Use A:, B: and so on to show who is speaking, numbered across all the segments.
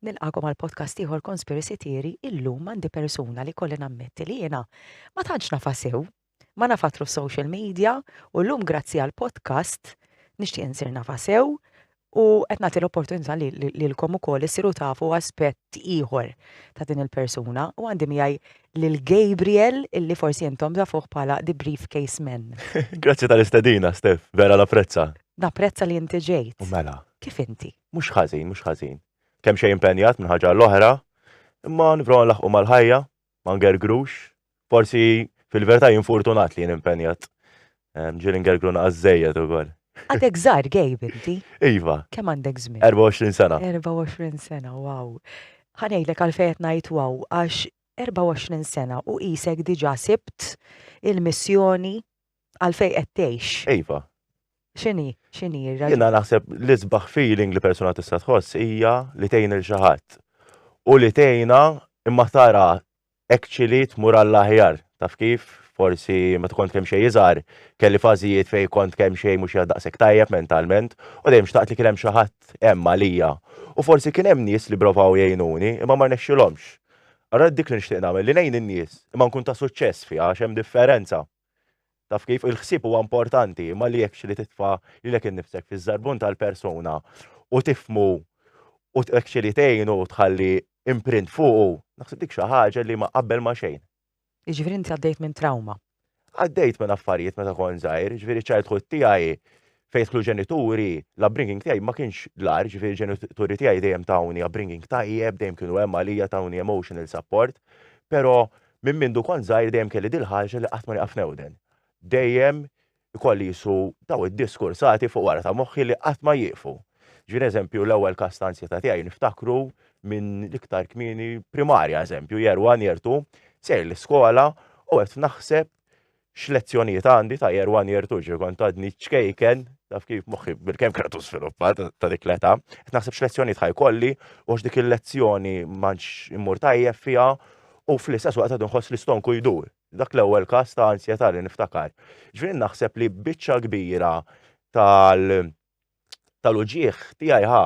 A: Nilqagħkom għal podcast ieħor Konspirisitieri, illum għandi persuna li jkolli nammetti li jiena ma tantx nafha sew, ma nafatlu f'social media u llum grazzi għal podcast nixtieq insir nafha sew u qed nagħti l-opportunità lilkom ukoll issiru tafu aspett ieħor ta' din il-persuna u għandi miegħi lil Gabriel illi forsi intom tafuh bħala The Briefcase Man. Grazzi tal-istedina,
B: Stef, vera l-apprezza. Napprezza li inti
A: ġejt. U mela. Kif inti?
B: Mhux
A: ħażin, mhux
B: ħażin. Kemm xejn impenjat minn ħaġa għal oħra, imma nipprova nlaħħqu mal-ħajja, ma ngergrux. Forsi fil-verità jien fortunat li jien impenjat. Ġieli ngergru naqas żejjed ukoll. Għadek żgħar
A: Gabe inti? Iva. Kemm għandek
B: żmien? 24
A: sena. 24
B: sena,
A: wow. Ħa ngħidlek għalfejn qed ngħid wow, għax 24 sena u qisek diġà sibt il-missjoni Għal fej qed tgħix. Iva.
B: X'inhi,
A: x'inhi r-raġuni? Jiena naħseb
B: li sbaħ feeling li persuna tista' tħoss hija li tgħin il xi ħadd. U li tgħinha imma tara actually tmur għall-aħjar. Taf kif? Forsi meta kont kemm xejn iżgħar, kelli fażijiet fejn kont kemm xejn mhux qiegħed daqshekk tajjeb mentalment, u dejjem xtaqt li kien hemm xi ħadd hemm għalija. U forsi kien hemm nies li provaw jgħinuni, imma ma rnexxilhomx. Ara dik li nixtieq nagħmel, li ngħin in-nies, imma nkun ta' suċċess fiha għax hemm differenza. Taf kif? Il-ħsieb huwa importanti, imma li hekk li titfa' lilek innifsek fiż-żarbun tal-persuna u tifhmu u hekk li tgħinu u tħalli imprint fuqu, naħseb dik xi ħaġa li ma qabel ma xejn. Jiġifieri inti għaddejt
A: minn trawma. Għaddejt minn
B: affarijiet meta kont żgħir, ġifieri childhood tiegħi fejn dħlu ġenituri, la bringing tiegħi ma kienx l-ar, ġifieri ġenituri tiegħi dejjem tawni bringing tajjeb, dejjem kienu hemm għalija tawni emotional support, però minn mindu kont żgħir dejjem kelli dil-ħaġa li qatt ma nieqaf newden. Dejjem ikolli qisu dawn id-diskursati fuq wara ta' moħħi li qatt ma jieqfu. Ġifieri eżempju l-ewwel każ ta' ansjetà tiegħi niftakru minn l-iktar kmieni primarja eżempju year one, year two, sejjer l-iskola u qed naħseb x'lezzjonijiet għandi ta' year one, year two, ġifieri kont għadni ċkejken, taf kif moħħi bilkemm kienet żviluppat ta' dik l-età, qed naħseb x'lezzjonijiet ħajkolli u għax dik il-lezzjoni m'għandx immur tajjeb fiha u fl-istess waqt qed inħoss li stonku jdur. Dak l-ewwel każ ta' ansjetà li niftakar. Jiġifieri naħseb li biċċa kbira tal tal-uġigħ tiegħi ħa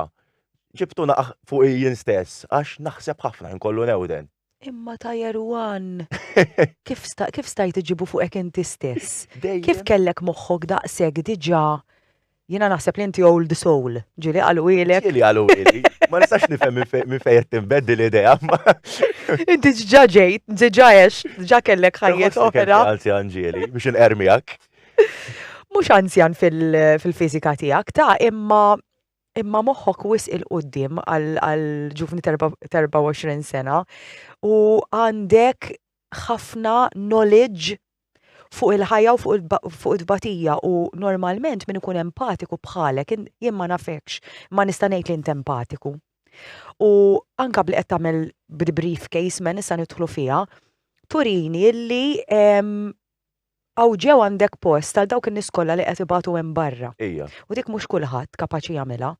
B: ġibtu naqaħ fuqi jien stess għax naħseb ħafna inkollu newden. Imma Tajer
A: One! Kif kif stajt iġġibu fuqek inti stess? Kif kellek
B: moħħok
A: daqshekk diġà Jiena naħseb li inti old soul. Ġieli qalulek. Ġieli qaluli.
B: Ma nistax nifhem minn fejn qed tinbeddi l-idea. Inti
A: ġġa ġejt, ġġa għex, ġġa kellek ħajjet oħra. Anzjan ġieli biex
B: inqermijak.
A: Mhux anzjan fil-fiżika tiegħek ta' imma imma moħħok wis il-qoddim għal ġuvni 24 sena u għandek ħafna knowledge fuq il-ħajja u fuq it-tbatija u normalment min ikun empatiku bħalek jien ma nafekx ma nista' ngħid li int empatiku. U anka bli qed tagħmel briefcase men issa nidħlu fiha, turini illi għaw ġew għandek post għal dawk in-nies kollha li qed ibatu hemm barra. Ija. U dik mhux
B: kulħadd
A: kapaċi jagħmilha.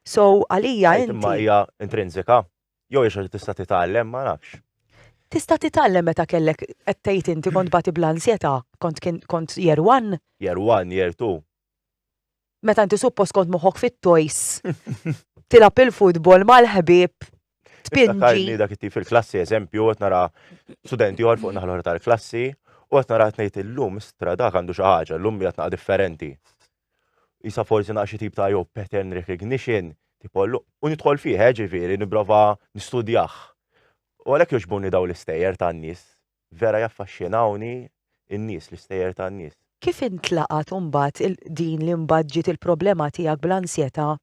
A: So, għalija inti. Imma hija
B: intrinsika, jew hija tista' titgħallem, ma nafx. Tista'
A: titgħallem meta kellek qed tgħid inti kont bati bl-ansjetà, kont kont year one? Year one, year two. Meta inti suppost kont moħħok fit-toys, tilab il-futbol mal-ħbib, tpinġi.
B: dak it fil-klassi,
A: eżempju,
B: qed nara studenti għor fuq naħlor tal-klassi, u qed nara tnejt illum, istra dak għandu xi ħaġa, llum jgħatna differenti. jisa forsi naqxi tip ta' jew pattern recognition, tipo, u nidħol fih, eh, ġifieri, nipprova nistudjah. U għalhekk jogħġbuni daw l-istejjer tan-nies. Vera jaffaxxinawni n-nies, l-istejjer tan-nies. Kif intlaqgħet
A: imbagħad din li mbagħad ġiet il-problema tiegħek bl-ansjetà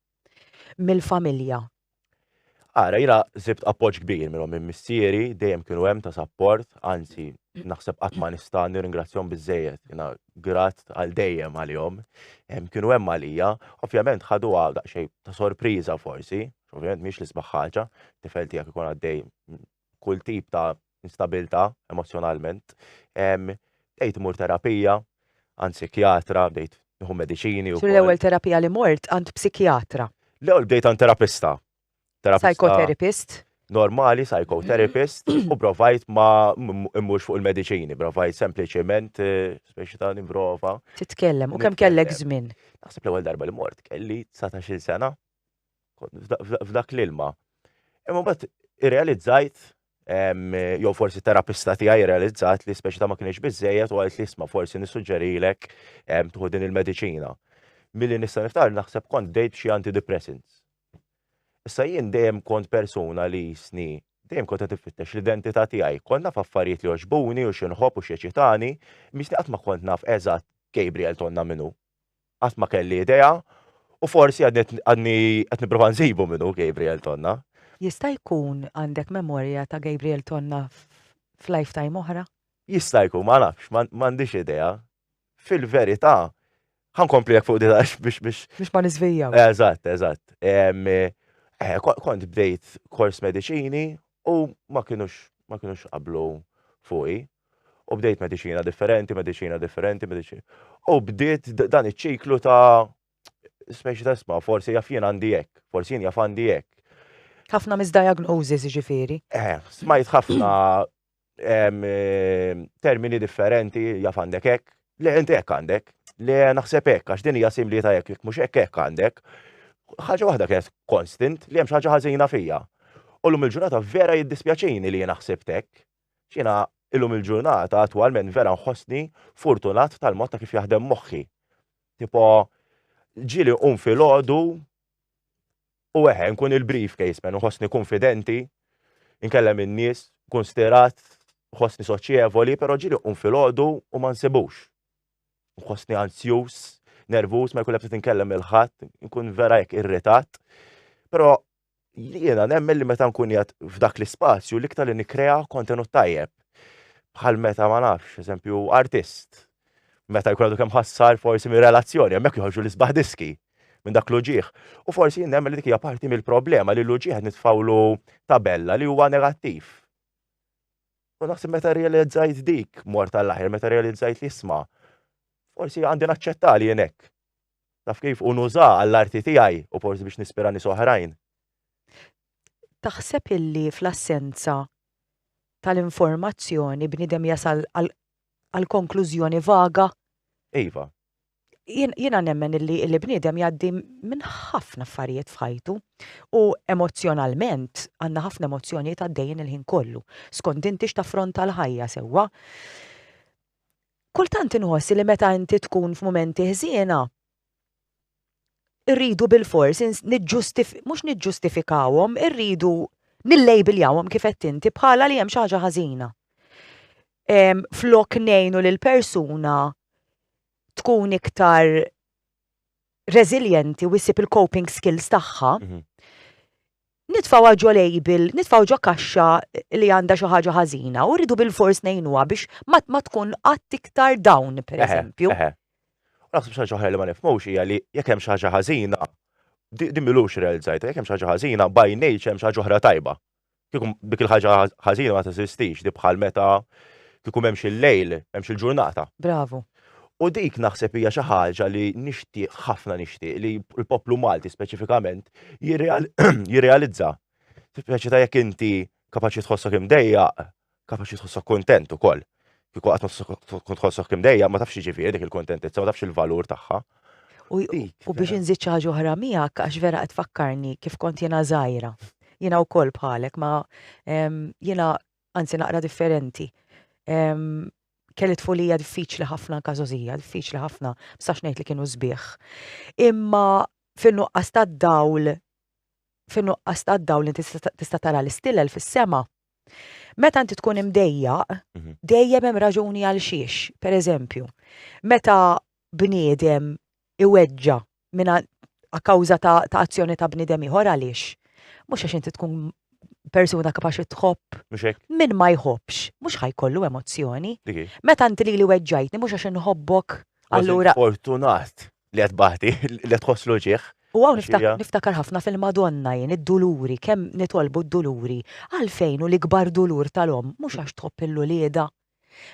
A: mill-familja.
B: Ara, jina zibt appoġġ kbir minnhom minn missieri, dejjem kienu hemm ta' sapport, anzi naħseb qatt ma nista' nirringrazzjahom biżejjed, jina grat għal dejjem għalihom. Kienu hemm għalija, ovvjament ħaduha daqsxejn ta' sorpriża forsi, ovvjament mhix l-isbaħ ħaġa, tifel tiegħek ikun għaddej kull tip ta' instabilità emozzjonalment, bdejt immur terapija għand psikjatra, bdejt nieħu mediċini. Tul l-ewwel terapija li
A: mort għand psikjatra? L-ewwel bdejt għand
B: terapista. Psychotherapist?
A: Normali,
B: psychotherapist, u provajt ma immux fuq il-mediċini, provajt sempliċement eh, speċi ta' nimprova. Titkellem, u kemm
A: kellek żmien? Naħseb l-ewwel darba
B: li mort kelli 19 sena. f'dak l-ilma. Imma bat irrealizzajt, jew forsi terapista tiegħi irrealizzat li speċi ta' ma kienx biżejjed u għalt li isma' forsi nissuġġerilek tħu din il-mediċina. Milli nista' niftar naħseb kont dejt xi antidepressants. Issa jien dejjem kont persuna li jisni dejjem kont qed nfittex l-identità tiegħi. Kont naf affarijiet li oġbuni u xi nħobb u xi ċitani, misni qatt ma kont naf eżatt Gabriel tonna minnu. Qatt ma kelli idea u forsi għadni qed nipprova nsibu min hu Gabriel Tonna. Jista' jkun
A: għandek memorja ta' Gabriel Tonna f'lifetime oħra? Jista' jkun, ma
B: nafx, m'għandix idea. Fil-verità, ħa nkompli hekk fuq din għax biex biex. Biex ma niżvijawx.
A: Eżatt, eżatt.
B: Kont bdejt kors mediċini u ma kinux ma kinux qablu fuqi. U bdejt mediċina differenti, mediċina differenti, mediċina. U bdiet dan iċ-ċiklu ta' speċi ta' isma, forsi jaf jien għandi hekk, forsi jien jaf għandi hekk. Ħafna
A: misdiagnosis ġifieri. Eh, smajt ħafna
B: eh, termini differenti jaf għandek hekk, le inti hekk għandek, le naħseb hekk għax din hija simli ta' hekk, mhux hekk hekk għandek. Ħaġa waħda kienet konstant li hemm xi ħaġa ħażina fija. U l-lum il-ġurnata vera jiddispjaċini li jien naħseb hekk Jiena illum il-ġurnata attwalment vera nħossni furtunat tal-mod ta' kif jaħdem moħħi. Tipo, ġieli qum filgħodu u eħe, nkun il-briefcase man, nħossni konfidenti, nkellem in-nies, kun stirat, nħossni soċjevoli, però ġieli qum filgħodu u ma nsibux. Nħossni anzjuż, nervuż, ma jkun ebda tinkellem il-ħadd, nkun vera jekk irritat. Però li jena nemmen li meta nkun jgħat f'dak l-ispazju li ktar li nikrea kontenut tajjeb. Bħal meta ma nafx, eżempju, artist. Meta jkun għadu kem ħassar forsi minn relazzjoni, għemmek jħorġu l-isbaħ diski minn dak l-uġieħ. U forsi nemmen li dik hija parti mill-problema li l-uġieħ nitfawlu tabella li huwa negattiv. U naħseb meta realizzajt dik mort tal-aħir, meta realizzajt li jisma, forsi għandi naċċetta li jenek. Taf kif? U nuża għall-arti tiegħi u forsi biex nispira nies oħrajn. Taħseb
A: illi fl-assenza tal-informazzjoni bniedem jasal għal konklużjoni vaga? Iva. Jiena nemmen illi illi bniedem jgħaddi minn ħafna affarijiet f'ħajtu u emozjonalment għandna ħafna emozzjonijiet għaddejjin il-ħin kollu. Skont inti x'taffronta l-ħajja sewwa. Kultant inħoss li meta inti tkun f'mumenti ħżiena, irridu bilfors ins- niġġustif- mhux niġġustifikawhom, irridu nillejbiljawhom kif għedt inti bħala li hemm xi ħaġa ħażina. Ehm, flok ngħinu lill-persuna tkun iktar reżiljenti u ssib il-coping skills tagħha, Nitfgħuha ġo label, nitfgħu ġo kaxxa li għandha xi ħaġa ħażina u rridu bilfors ngħinuha biex ma ma tkun qatt iktar dawn, pereżempju. Eħe, eħe. U naħseb
B: xi ħaġa oħra li ma nifhmux hija li jekk hemm xi ħaġa ħażina, di din m'ilux irrealizzajtha, jekk hemm xi ħaġa ħażina by nature hemm xi ħaġa oħra tajba. Kieku dik il-ħaġa ħażina ma teżistix, di bħal meta kieku m'hemmx il-lejl, m'hemmx il-ġurnata. Bravu.
A: U dik
B: naħseb hija xi ħaġa li nixtieq ħafna nixtieq li l-poplu Malti speċifikament jirrealizza. Speċi ta' jekk inti kapaċi tħossok imdejjaq, kapaċi tħossok kontent ukoll. Kieku qatt tħossok imdejjaq ma tafx ġifieri dik il-kontentizza, ma tafx il-valur tagħha.
A: U biex inżid xi ħaġa oħra miegħek għax vera qed fakkarni kif kont jiena żgħira. Jiena wkoll bħalek ma jiena anzi naqra differenti. Kelli tfulija diffiċli ħafna anka żożija, diffiċli ħafna, sax ngħid li kienu sbieħ. Imma fin-nuqqas tad-dawl, fin-nuqqas tad-dawl li tista' tara l-istilel fis-sema, meta inti tkun imdejjaq, mhm. dejjem hemm raġuni għal xiex, pereżempju, meta bniedem iweġġa' mingħand a kawża ta' ta' azzjoni ta' bniedem ieħor għaliex? Mhux għax inti tkun persuna kapaċi tħobb. Mhux hekk? Min ma jħobbx, mhux ħa jkollu emozzjoni. Dik hi. Meta inti lili weġġajtni mhux għax inħobbok Kważi allura. fortunat
B: li qed tbati, li qed tħoss l-uġigħ. U hawn Għax niftak- hija-
A: niftakar ħafna fil-Madonna jien id-duluri, kemm nitolbu d-duluri. Għalfejn hu l-ikbar dulur tal-omm mhux għax tħobb 'il uliedha,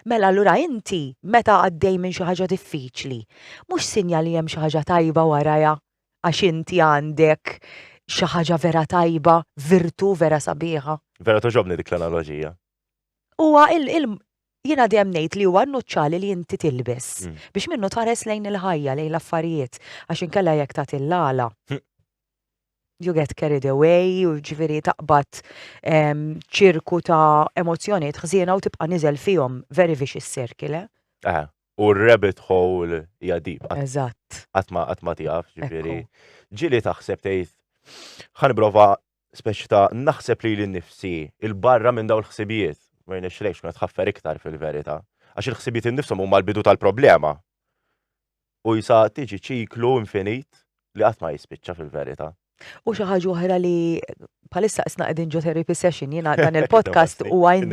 A: Mela allura inti meta għaddej minn xi ħaġa diffiċli, mhux sinjal li hemm xi ħaġa tajba warajha għax inti għandek xi ħaġa vera tajba, virtù vera sabiħa? Vera togħġobni dik
B: l-analoġija. Huwa
A: il, il jiena dejjem ngħid li huwa n-nuċċali li inti tilbes mm. biex minnu tħares lejn il-ħajja, lejn l-affarijiet, għax inkella jekk tagħti l-għala. Hm. you get carried away, u ġviri taqbad ehm, ċirku ta' emozjoniet ħżiena u tibqa' niżel fihom very vicious circle. Eh? eh, u
B: rabbit hole jadib. Eżatt. Għatma
A: għatma tijaf,
B: ġviri. Ġili taħseb tejt, ħanbrova speċi ta' naħseb li l-nifsi il-barra minn daw l-ħsibijiet. Ma jnex lejx, ma tħaffer iktar fil-verita. Għax il-ħsibijiet il-nifsom huma l-bidu tal-problema. U jsa tiġi ċiklu infinit li qatt ma jispiċċa fil-verità. U xi ħaġa oħra li
A: bħalissa qisna qegħdin ġo therapy session jiena dan il-podcast u għajn.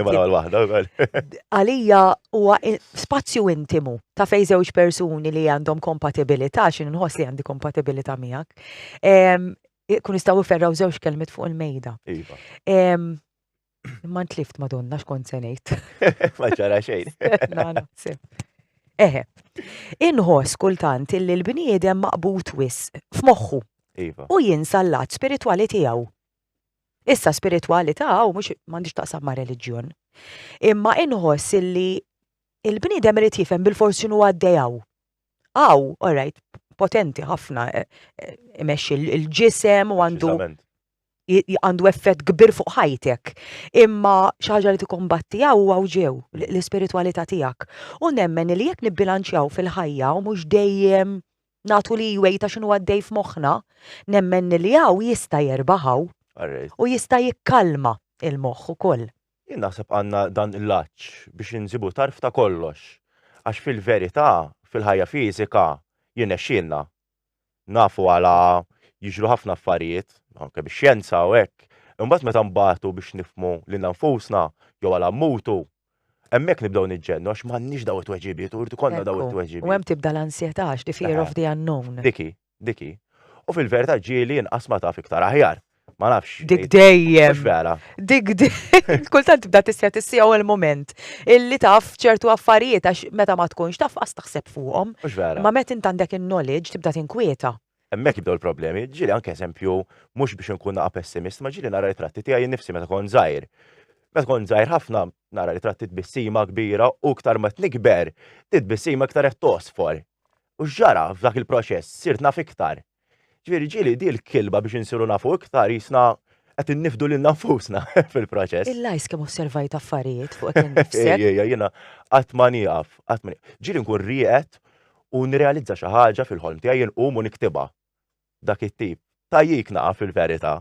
A: Għalija huwa spazju intimu ta' fej żewġ persuni li għandhom kompatibilità x'in nħoss li għandi kompatibilità miegħek. Kun jistgħu ferraw żewġ kelmet fuq il-mejda. Iva. Ma ntlift madonna x'kont se ngħid. Ma ġara
B: xejn. Eħe.
A: Inħoss kultant illi l-bniedem maqbut wis f'moħħu. Iva. U jinsa
B: l-lat
A: spiritwali tiegħu. Issa spiritwali taw mhux m'għandix taqsam ma' reliġjon. Imma inħoss illi il-bniedem irid jifhem bil-forsi nu għaddejaw. Aw, all right, potenti ħafna eh, eh, imexxi l-ġisem u għandu għandu effett kbir fuq ħajtek, imma xi ħaġa li tikkombattiha huwa ġew l-ispiritwalità tiegħek. U nemmen li jekk nibbilanċjaw fil-ħajja u mhux dejjem nagħtu li jwejta x'inhu għaddej f'moħħna, nemmen li hawn jista' jerbaħ hawn u jista' jikkalma l-moħħ ukoll. Jien naħseb għandna
B: dan l-għatx biex insibu tarf ta' kollox. Għax fil-verità, fil-ħajja fiżika jirnexxielna nafu għala jiġru ħafna affarijiet, anke bix-xjenza u hekk, imbagħad meta nbagħtu biex nifhmu lilna nfusna jew għala mmutu, hemmhekk nibdew niġġennu għax m'għandniex dawn it-tweġibiet u jrid ikollna dawn it-tweġibiet. Ekku, u hemm tibda l-ansjetà
A: għax the fear of the unknown. Dik hi, dik hi.
B: U fil-verità ġieli inqas ma taf iktar aħjar. Ma nafx. Dik dejjem. Mhux
A: vera. Dik
B: dejjem.
A: Kultant tibda tissija tissija u l-moment illi taf ċertu affarijiet għax meta ma tkunx taf qas taħseb fuqhom. Mhux vera. Ma meta int għandek in-knowledge tibda tinkwieta. Hemmhekk jibdew il-problemi.
B: Ġieli anke eżempju mhux biex inkun naqa' pessimist, ma ġieli nara ritratti tiegħi nnifsi meta kont żgħir. Meta kont żgħir ħafna nara ritratti tbissima kbira u iktar ma tnikber, titbissima iktar qed tosfor. U x'ġara f'dak il-proċess? Sirt naf iktar. Ġifieri ġieli di l-kilba biex insiru nafu iktar jisna qed innifdu lilna nfusna fil-proċess. Il-lajs kemm osservajt
A: affarijiet fuqek innifsek. Ejja, ejja, jiena qatt
B: ma nieqaf, qatt ma nieqaf. Ġieli nkun rieqed u nirrealizza xi ħaġa fil-ħolm tiegħi inqum u niktibha. dak it-tip. Tajjik naqa fil-verita.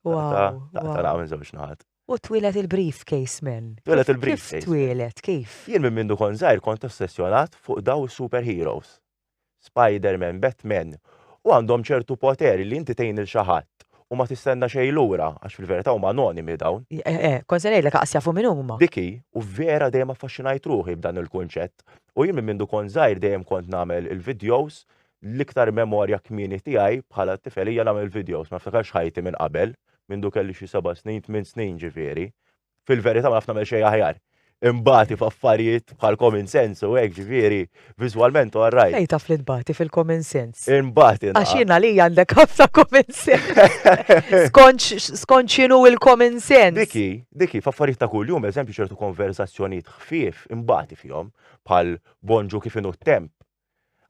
B: Wow.
A: Taqta minn żewġ
B: naħat. U twilet
A: il-briefcase men. Twilet il-briefcase. Kif
B: twilet, kif?
A: Jien minn mindu kon zaħir
B: kont ossessjonat fuq daw superheroes. Spider-Man, Batman, u għandhom ċertu poteri li inti tejn il-xaħat u ma tistenna xej lura, għax fil-verità huma anonimi dawn. Eh, eh, eh, Konsenaj l
A: aqsja fu minn huma. Diki, u vera
B: dejjem affaxxinajt ruħi b'dan il-kunċett. U jien minn mindu kon zaħir dejjem kont nagħmel il-videos l-iktar memorja kmieni tiegħi bħala tifel hija nagħmel videos, ma niftakarx ħajti minn qabel, mindu kelli xi seba' snin, tmien snin ġifieri. Fil-verità ma naf nagħmel xejn aħjar. Imbagħati f'affarijiet bħal common sense u hekk ġifieri, viżwalment all right. Fejn taf li tbati fil-common
A: sense? Imbagħati. Għax jien
B: għalija għandek
A: ħafna common sense. Skont x'inhu il-common sense? Diki, diki, f'affarijiet
B: ta' kuljum, eżempju ċertu konversazzjonijiet ħfief imbagħati fihom bħal bonġu kif inhu t-temp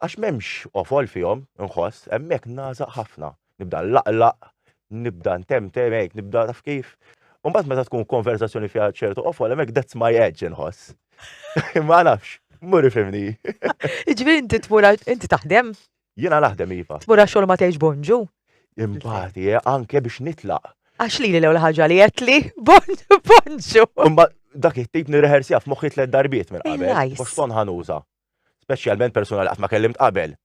B: Għax m'hemmx qofol fihom, inħoss, hemmhekk nagħżaq ħafna. Nibda nlaqlaq, nibda ntemtem hekk, nibda taf kif. U mbagħad meta tkun konversazzjoni fiha ċertu qofol hemmhekk that's my edge inħoss. Ma nafx, mur ifimni. Ġifieri inti
A: tmur inti taħdem? Jiena naħdem
B: iva. Tmur għax ma tgħix bonġu?
A: Imbagħad
B: eh, anke biex nitlaq. Għax li l-ewwel
A: ħaġa li qed li bonġu.
B: Dak it-tip nirreħersja f'moħħi tliet darbiet minn qabel. Boston ħanuża. Speċjalment persuna li qatt ma kellimt qabel.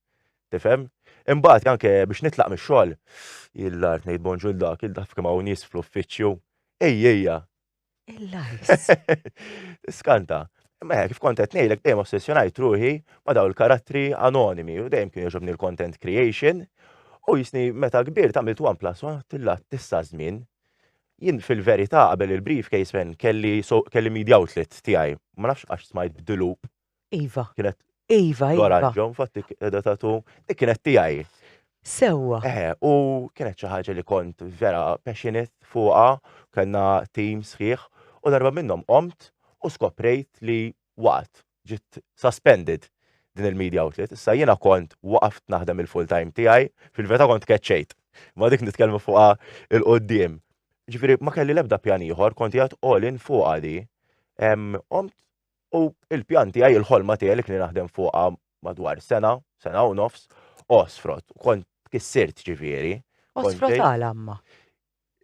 B: Tifhem? Imbagħad anke biex nitlaq mix-xogħol, il-art ngħid bonġu l dak, il dak kemm hawn nies fl-uffiċċju. Ej, ejja.
A: Il-lajs.
B: Skanta. Ma kif kont qed ngħidlek dejjem ossessjonajt ruħi ma daw il-karattri anonimi u dejjem kien jogħġobni l-content creation. U jisni meta kbir tagħmilt one plus one tilla tista' żmien. Jien fil-verità qabel il-briefcase fen kelli kelli media outlet tiegħi. Ma nafx għax smajt b'dilup Iva. Kienet.
A: Iva,
B: iva. L-oranġo,
A: infatti,
B: edha tatu, dik kienet tijaj. Sewa.
A: Eh, u
B: kienet xaħġa li kont vera passionate fuqa, kena team sħiħ, u darba minnom omt u skoprejt li waqt ġit suspended din il-media outlet, issa jena kont waqaft naħdem il-full time tijaj, fil-veta kont keċċejt. Ma dik nitkellmu fuqa il-qoddim. Ġifiri, ma kelli lebda pjaniħor, kont jgħat all-in fuqa di. Omt U il-pjan tiegħi, il-ħolma tiegħi li kni naħdem fuqha madwar sena, sena u nofs, osfrot, kont kissirt ġifieri. Osfrot għal
A: amma.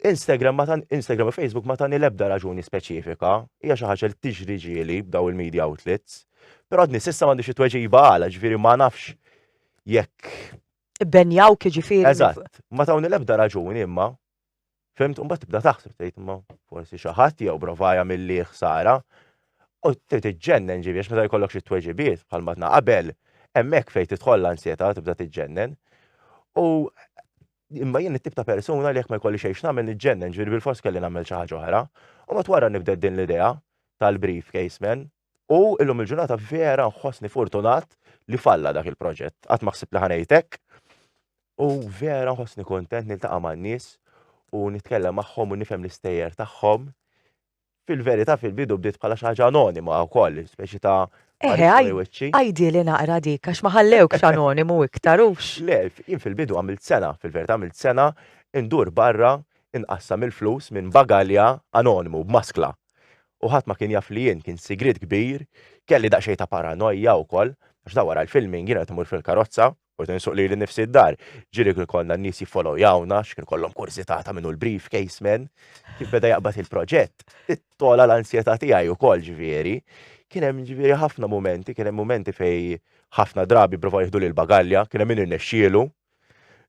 A: Instagram
B: ma tan Instagram u Facebook ma tani lebda raġuni speċifika, hija xi ħaġa li tiġri ġieli b'daw il-media outlets. Però għadni s'issa m'għandix it-tweġiba għala, ġifieri ma nafx jekk. Benjaw
A: ġifieri. Eżatt, ma tawni
B: lebda raġuni imma Fimt, un bat tibda taħseb tgħid ma forsi xi ħadd jew brovaja milli ħsara. U trid tiġġennen ġibi għax meta jkollok xi tweġibiet bħal matna qabel, hemmhekk fejn tidħol l-ansjetà tibda tiġġennen. U imma jien it-tip ta' persuna li jekk ma jkolli xejn nagħmel niġġennen ġibi bil-fors kelli nagħmel xi ħaġa oħra. U mat wara nibda din l-idea tal-briefcase man, U illum il-ġurnata vera nħossni fortunat li falla dak il-proġett. Qatt ma ħsibt li ħanejtek. U vera nħossni kontent niltaqa' man-nies u nitkellem magħhom u nifhem l-istejjer tagħhom. Fil-verità fil-bidu bdiet bħala xi ħaġa anonima wkoll, speċi ta' Eħe,
A: għajdi li naqra dik, għax ma ħallewkx anonimu iktar ux. Le, jien fil-bidu
B: għamilt sena, fil-verità għamilt sena, indur barra, inqassam il-flus minn bagalja anonimu, b'maskla, u ħadd ma kien jaf li jien, kien sigriet kbir, kelli daqsxejn ta' paranojja wkoll, għax da wara l-filming jien qed immur fil-karozza, u qed insuq lili nnifsi d-dar, ġieli kien ikollna n-nies jiffolowjawna għax kien ikollhom kurżità ta' min hu l-briefcase man, kif beda jaqbad il-proġett, togħla l-ansjetà tiegħi wkoll ġifieri. Kien hemm ġifieri ħafna mumenti, kien hemm mumenti fejn ħafna drabi pprovaw jieħduli l-bagalja, kien hemm min irnexxielu,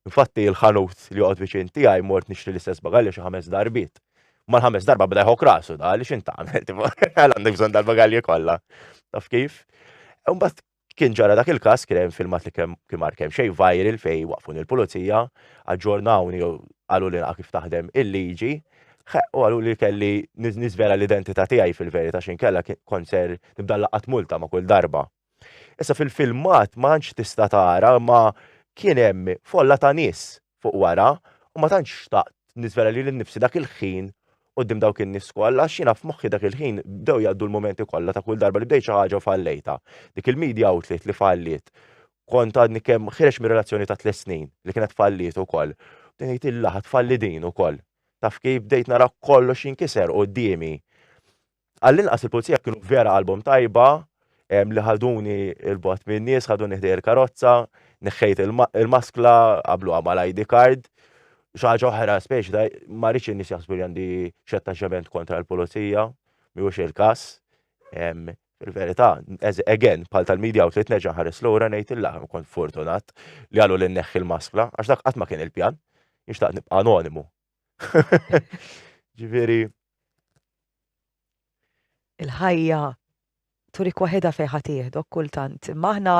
B: Infatti il-ħanut li joqgħod viċin tiegħi mort nixtri l-istess bagalja xi ħames darbiet. Mal-ħames darba bda jħok rasu da li x'in tagħmel, għal għandek bżonn dal-bagalji kollha. Taf kif? Imbagħad kien ġara dak il-każ kien hemm filmat li kemm kien mar kemm xejn viral fej waqfun il-pulizija, aġġornawni jew qalu li kif taħdem il-liġi, u għalu li kelli nizvera l-identità tiegħi fil-verità x'inkella konser nibda laqat multa ma' kull darba. Issa fil-filmat ma tantx tista' tara imma kien hemm folla ta' nies fuq wara u ma tantx xtaqt niżvela lili nnifsi dak il-ħin quddiem dawk in-nies kollha għax jiena f'moħħi dak il-ħin bdew jgħaddu l-mumenti kollha ta' kull darba li bdejt xi ħaġa u fallejtha. Dik il-media outlet li falliet kont għadni kemm ħireġt mir-relazzjoni ta' tliet snin li kienet falliet ukoll. Bdejt ngħid illa ħa tfalli din ukoll. Taf kif bdejt nara kollox jinkiser quddiemi. Għall-inqas il-pulizija kienu vera qalbhom tajba li ħaduni il-bot minn nies, ħaduni ħdej il-karozza, neħħejt il-maskla, qablu għamal ID card, xaġa oħra speċi ta' ma rridx in-nies jaħsbu li għandi x'attaċċament kontra l-pulizija, miħux il-każ. Fil-verità, again, bħal tal-media outlet neġa ħares l-ura ngħid il-laħam kont fortunat li għalu li neħħi l-maskla, għax dak qatt ma kien il-pjan, nixtaq nibqa' anonimu. Ġifieri.
A: Il-ħajja turik waħedha fejn ħadd jieħdok kultant, imma aħna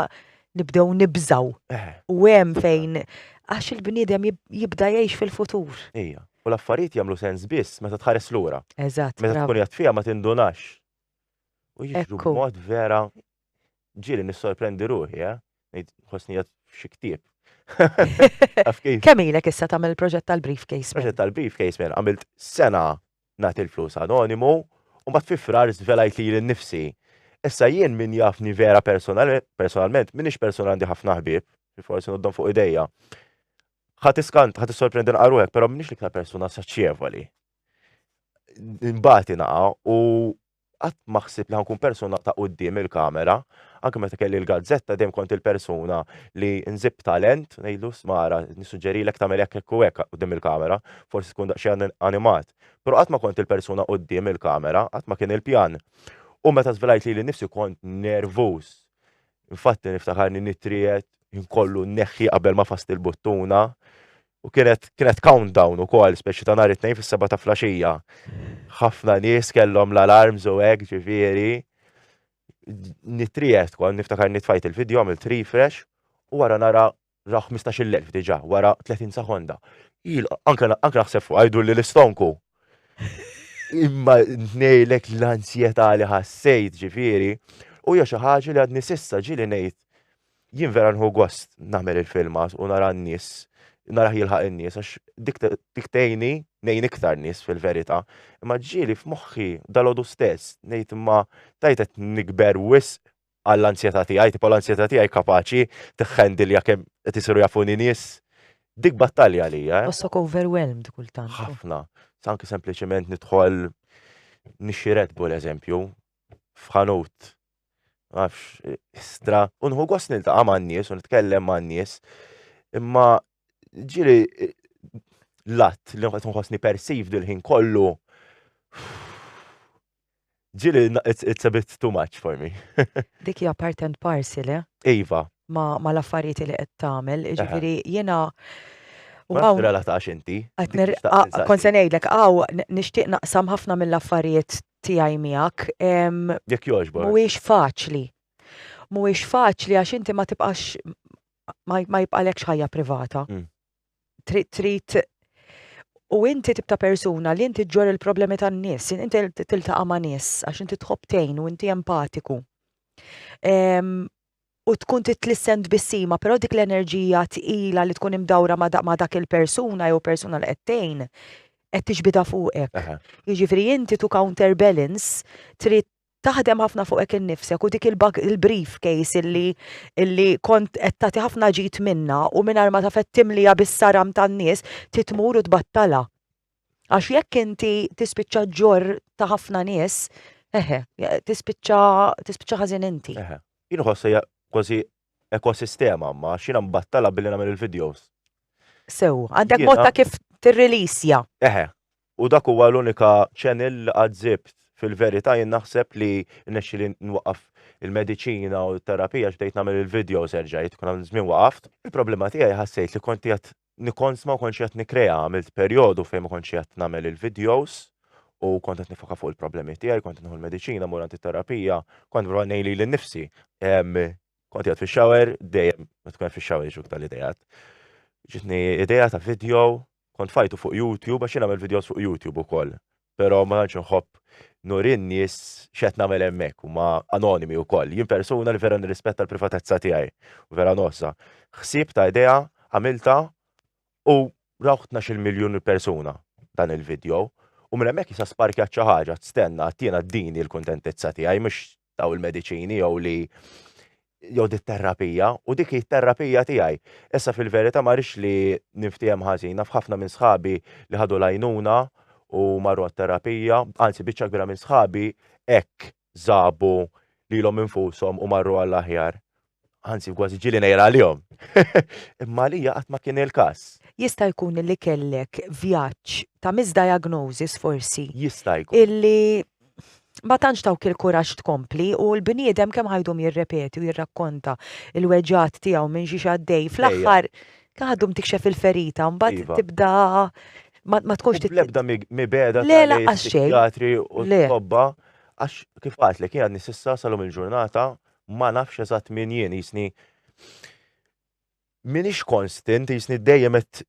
A: nibdew nibżaw. Eh. U hemm fejn għax il-bniedem jibda jgħix fil-futur. Ija, u l-affarijiet
B: jagħmlu sens biss meta tħares lura. Eżatt. Meta tkun jgħat
A: fija ma
B: tindunax. U jiġu mod vera Ġieli nissorprendi ruħi, eh? Ngħid ħossni qed f'xi ktieb. Taf kif? Kemm
A: ilek issa tagħmel il-proġett tal-briefcase? Proġett tal-briefcase minn
B: għamilt sena nagħti l-flus anonimu u mbagħad fi frar żvelajt li jien nifsi. Issa jien min jafni vera personalment, minix persona għandi ħafna ħbieb, li forsi noddhom fuq idejja. Ħadd iskant, ħadd issorprendi nqaruhek, però minix l-iktar persuna saċċevoli. Imbagħad inaqa' u Qatt ma ħsibt li ħa nkun persuna ta' quddiem il-kamera. Anke meta kelli l-gazzetta dejjem kont il-persuna li nżib talent, ngħidlu sma' ara nissuġġerilek tagħmel hekk hekk u hekk quddiem il-kamera, forsi tkun daqsxejn animat. Però qatt ma kont il-persuna quddiem il-kamera, qatt ma kien il-pjan. U meta żvelajt lili nnifsi kont nervuż. Infatti niftakarni nittriegħed, ħin kollu nneħħi qabel ma fast il-buttuna. U kienet kienet countdown ukoll speċi ta' nhar it-tnejn fis-seba' ta' flaxija. Ħafna nies kellhom l-alarms u hekk ġifieri. Nitrijet kont niftakar nitfajt il-video għamilt refresh u wara nara ra 15,000 diġà wara 30 sekonda. Anke naħseb fuq għajdu li l-istonku. Imma ngħidlek l-ansjetà li ħassejt ġifieri u hija xi ħaġa li għadni s'issa ġieli ngħid jien vera nħu gost nagħmel il-filmas u nara n-nies, nara jilħaq in-nies għax dik dik tgħinni ngħin iktar nies fil-verità. Imma ġieli f'moħħi dalodu stess ngħid imma tajt qed nikber wisq għall-ansjetà tiegħi, tipo l-ansjetà tiegħi kapaċi tiħħendilja kemm qed isiru jafuni nies. Dik battalja għalija. Eh? Bossok overwhelmed
A: kultant. Ħafna. Sanki
B: sempliċement nidħol nixxi Red Bull eżempju f'ħanut nafx, stra, u nħu gost niltaqa' man-nies u nitkellem man-nies. Imma ġiri l-att li qed nħossni persiv dil-ħin kollu ġiri it's a bit too much for me. Dik hija part
A: and parcel, eh? Iva. Ma,
B: ma l-affarijiet
A: li qed tagħmel, ġifieri jiena U għaw.
B: Relatax
A: inti.
B: Kont
A: se ngħidlek, għaw, nixtieq naqsam ħafna mill-affarijiet tiegħi miegħek. Jekk jogħġbok.
B: Mhuwiex faċli.
A: Mhuwiex faċli għax inti ma tibqax ma jibqalekx ħajja privata. Mm. Trid trid u inti tibta persuna li inti ġor il-problemi tan-nies, inti tiltaqa' ma' nies għax inti tħobb tgħin u inti empatiku. u tkun titlissen tbissima, però dik l-enerġija tqila li tkun imdawra ma' dak il-persuna jew persuna li qed tgħin qed tiġbidha fuqek. Jiġifieri inti to counter balance trid taħdem ħafna fuqek innifsek u dik il-brief case illi illi kont qed tagħti ħafna ġid minnha u mingħajr ma taf qed timliha bis-saram tan-nies trid tmur u tbattalha. Għax jekk inti tispiċċa ġorr ta' ħafna nies, eħe, tispiċċa tispiċċa ħażin inti. Eħe. Jien ħoss hija
B: kważi ekosistema ma xina mbattala billi nagħmel il-videos. Sew,
A: għandek mod ta' kif tirrilisja. Eħe. U
B: dak huwa l-unika channel li għadżibt fil-verità jien naħseb li nexxi li nwaqqaf il-mediċina u t-terapija x'bdejt nagħmel il-videos erġajt, kun għamil żmien waqaft. Il-problema tiegħi ħassejt li konti qed Nikons ma kontx qed nikkrea, għamilt perjodu fejn ma kontx qed nagħmel il-videos u kont qed nifoka fuq il-problemi tiegħi, kont nieħu l-mediċina, mur għand it-terapija, kont nipprova ngħin lili nnifsi. Kont qiegħed fix-shower, dejjem meta tkun qed fix-shower jiġuk dan l-idejat. Ġitni idea ta' video, kont fajtu fuq YouTube għax jien nagħmel videos fuq YouTube ukoll. Però ma tantx inħobb nuri n-nies x'qed nagħmel hemmhekk, huma anonimi wkoll. Jien persuna li vera nirrispetta l-privatezza tiegħi u vera ngħożżha. Ħsieb ta' idea għamiltha u rawh tnax-il miljun persuna dan il-vidjow u minn hemmhekk issa sparkjat xi ħaġa, stenna, tiena dini l-kuntentizza tiegħi mhux daw il-mediċini jew li jew dit terapija u dik hi terapija tiegħi. Issa fil-verità ma rix li niftiehem ħażina f'ħafna minn sħabi li ħadu lajnuna u marru għat-terapija, anzi biċċa kbira minn sħabi hekk żabu lilhom infushom u marru għall-aħjar. anzi kważi ġili nejra għalihom. Imma li qatt ma kien il-każ. Jista' jkun li
A: kellek vjaġġ ta' misdiagnosis forsi. Jista' jkun. Illi ma tantx tawk il-kuraġġ tkompli u l-bniedem kemm ħajdum jirrepeti u jirrakkonta il-weġat tiegħu minn xi għaddej fl-aħħar għadhom tikxef il-ferita mbagħad iva. tibda ma tkunx tibda mibeda
B: tal-psikiatri
A: u l-tobba
B: għax kif għatlek jgħadni sissa salom il-ġurnata ma nafx eżatt min jien, jisni minix konstant, jisni dejjem et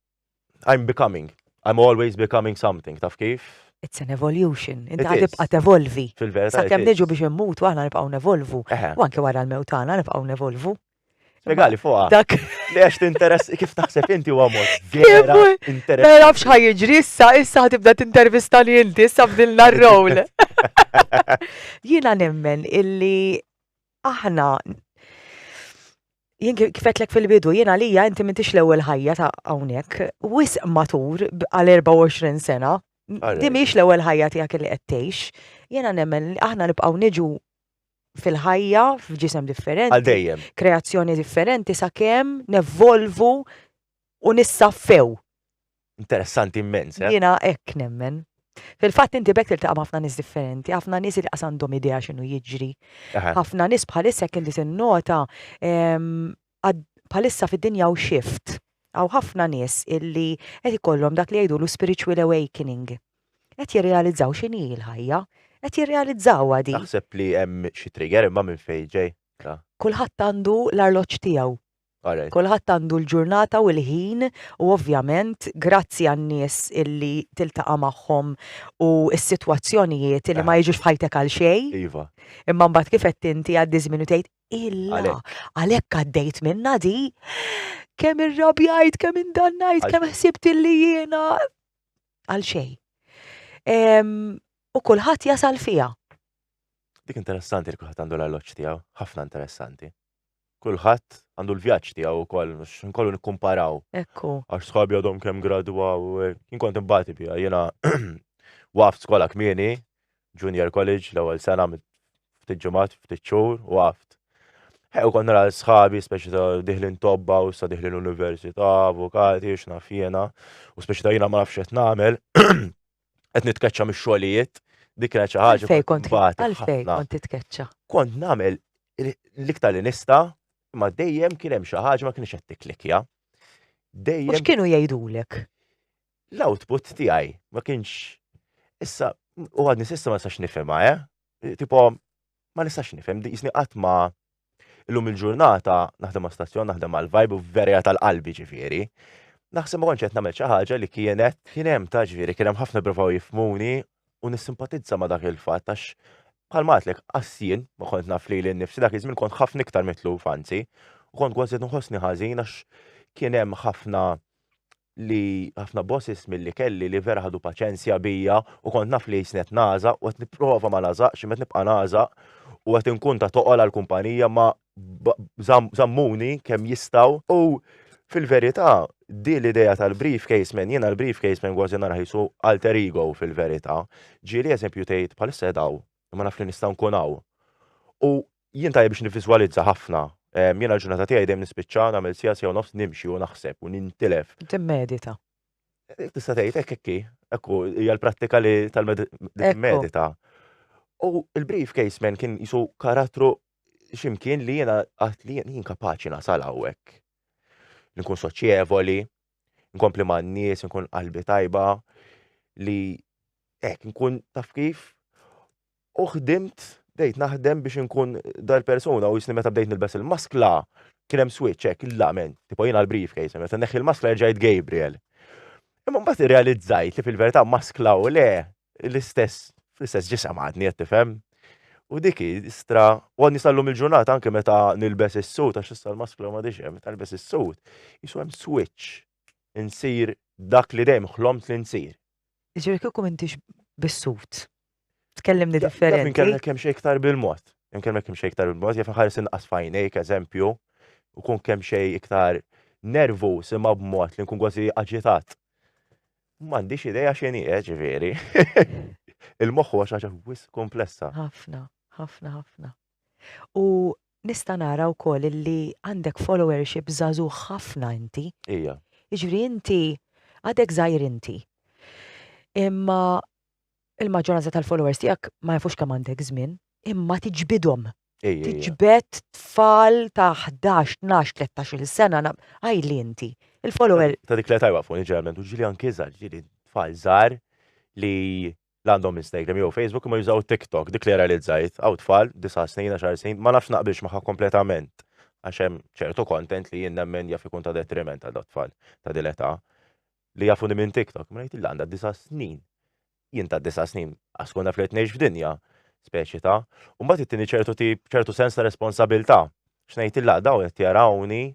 B: I'm becoming. I'm always becoming something, taf kif? It's an evolution,
A: inti għad tibqa tevolvi. Fil-verità. Sa' kem niġu
B: biex immutu,
A: għana nibqaw nevolvu. U anke wara l-mewtana nibqaw nevolvu. Spiegali
B: fuqa. Dak. Li għax
A: t-interess,
B: kif taħseb inti u għamur. Vera, interess. Ma nafx ħajġri,
A: issa, issa ħatibda t-intervistani inti, issa bdilna r-roll. Jiena nemmen illi aħna jien kifetlek fil-bidu, jiena lija inti mintix l-ewwel ħajja ta' hawnhekk, wisq matur għal 24 sena, di mhix l-ewwel ħajja tiegħek li qed tgħix. Jiena nemmen li aħna nibqgħu niġu fil-ħajja f'ġisem differenti. Għal dejjem. Kreazzjoni
B: differenti
A: sakemm nevolvu u nissaffew. Interessanti
B: immens, eh? Jiena hekk nemmen.
A: Fil-fatt inti bekk tiltaqa' ħafna nies differenti, ħafna nies li għandhom idea x'inhu jiġri. Ħafna nies bħalissa kien li tinnota ehm, bħalissa fid-dinja u shift. Għaw ħafna nies illi qed ikollhom dak li jgħidu l spiritual awakening. Qed jirrealizzaw x'inhi l-ħajja, qed jirrealizzaw għadi. Naħseb li hemm xi
B: trigger imma minn fejn ġej. Kulħadd
A: għandu l-arloġġ tiegħu. Kulħadd għandu l-ġurnata u l-ħin u ovvjament grazzi għan-nies illi tiltaqa' magħhom u s-sitwazzjonijiet illi ma jiġux f'ħajtek għal xejn. Iva. Imma
B: mbagħad kif għedt
A: inti jgħaddi ż-żmien u tgħid, Illa, għalhekk għaddejt minnha di! Kemm irrabjajt, kemm indannajt, kemm ħsibt illi jiena għal xejn. U kulħadd jasal fiha. Dik
B: interessanti li kulħadd għandu l-arloġġ tiegħu, ħafna interessanti. kulħadd għandu l-vjaġġ tiegħu wkoll, mhux nkollu nikkumparaw. Ekku. Għax sħabi
A: għadhom kemm
B: gradwaw, jien kont imbati biha, jiena waft skola kmieni, junior college, l-ewwel sena ftit ġimgħat, ftit xhur, waft. Ew kont nara sħabi, speċi ta' diħlin tobba u sa diħlin università, avukati, x'naf jiena, u speċi ta' jiena ma nafx qed nagħmel. qed nitkeċċa mix-xogħlijiet, dik kienet xi ħaġa Għalfej kont bati għalfej
A: ħafna. kont
B: titkeċċa. Kont
A: nagħmel
B: l-iktar li nista, ma dejjem kien hemm xi ħaġa ma kienx qed tiklikja. U
A: Dejjem x'kienu
B: jgħidulek?
A: l-output
B: tiegħi ma kienx issa u għadni sissa ma sax nifhimha, eh? Tipo ma nistax nifhem, jisni qatt ma illum il-ġurnata naħdem ma' stazzjon, naħdem għal vibe u verja tal-qalbi ġifieri. Naħseb ma kontx qed nagħmel xi ħaġa li kienet kien hemm ta' ġifieri kien hemm ħafna provaw jifmuni u nissimpatizza ma' dak il-fatt għax bħal matlek qassien ma kont naf li l-nifsi dak iż-żmien kont ħafna iktar mitlu fanzi u kont kważi nħossni ħażin għax kien hemm ħafna li ħafna bosses milli kelli li vera ħadu paċenzja bija u kont naf li jisnet nażaq u qed nipprova ma nażaqx imma nibqa' nażaq u qed inkun ta' toqol għall-kumpanija ma żammuni kemm jistgħu u fil-verità di l-idea tal-briefcase man jiena l-briefcase man kważi narah qisu alter ego fil-verità. Ġieli eżempju tgħid bħalissa qed hawn imma naf li nista' nkun hawn. U Jien tajjeb biex nivviżwalizza ħafna. Jiena l-ġurnata tiegħi dejjem nispiċċaha nagħmel siegħa, siegħa u nofs nimxi u naħseb u nintilef. Timmedita.
A: Tista'
B: tgħid hekk hekk hi. Hekk hu, hija l-prattika li tal-medita. U l-briefcase man kien jisu karattru ximkien li jiena għat li jien kapaċi nasal hawnhekk. Nkun soċjevoli, nkompli ma' n-nies, nkun qalbi tajba, li hekk nkun taf kif. U ħdimt, bdejt naħdem biex inkun dal-persuna u jisni meta bdejt nilbes il-maskla, kien hemm switch hekk, la men, tipo jiena l-briefcase, meta neħħi l-maskla rġajt Gabriel. Imma mbagħad irrealizzajt li fil-verità maskla u le l-istess fl-istess ġisem għadni qed tifhem. U dik istra, u għadni sallum il-ġurnata anke meta nilbes is-sut għax issa l-maskla ma diġem, meta nilbes is-sut, jisu hemm switch insir dak li dejjem ħlomt li nsir. Ġiri kieku
A: mintix bis-sut. Tkellimni differenti. Minn kellek
B: kemm xejn iktar bil-mod. Minn kellek kemm xejn iktar bil-mod, jaf ħares inqas fajnejk, eżempju, u kun kemm xejn iktar nervu sima b'mod li nkun kważi aġitat. M'għandix ideja x'inhi eh, ġifieri. Il-moħħ huwa xi ħaġa wis komplessa. Ħafna,
A: ħafna, ħafna. U nista' nara wkoll illi għandek followership żagħżugħ ħafna inti. Ija. Jiġifieri
B: inti
A: għadek żgħir inti. Imma il-maġġoranza tal-followers tiegħek ma jafux kemm għandek żmien, imma tiġbidhom. Tiġbed tfal ta' 11, 12, 13 sena għajli inti. Il-follower. Ta' dik li tajwa fuq
B: ġeneralment u ġili anki żgħar, ġili tfal żgħar li la għandhom Instagram jew Facebook imma jużaw TikTok, dik li realizzajt, hawn tfal, disa' snin, għaxar snin, ma nafx naqbilx magħha kompletament għax hemm ċertu content li jien nemmen jaf ikun ta' detriment għal tfal ta' din l-età li jafuni minn TikTok, ma ngħid illa għandha disa' snin. Jien ta' disa' snin għax tkun naf li qed ngħix f'dinja speċi ta' u mbagħad ittini ċertu tip ċertu sens ta' responsabilità. X'ngħid illa dawn qed jarawni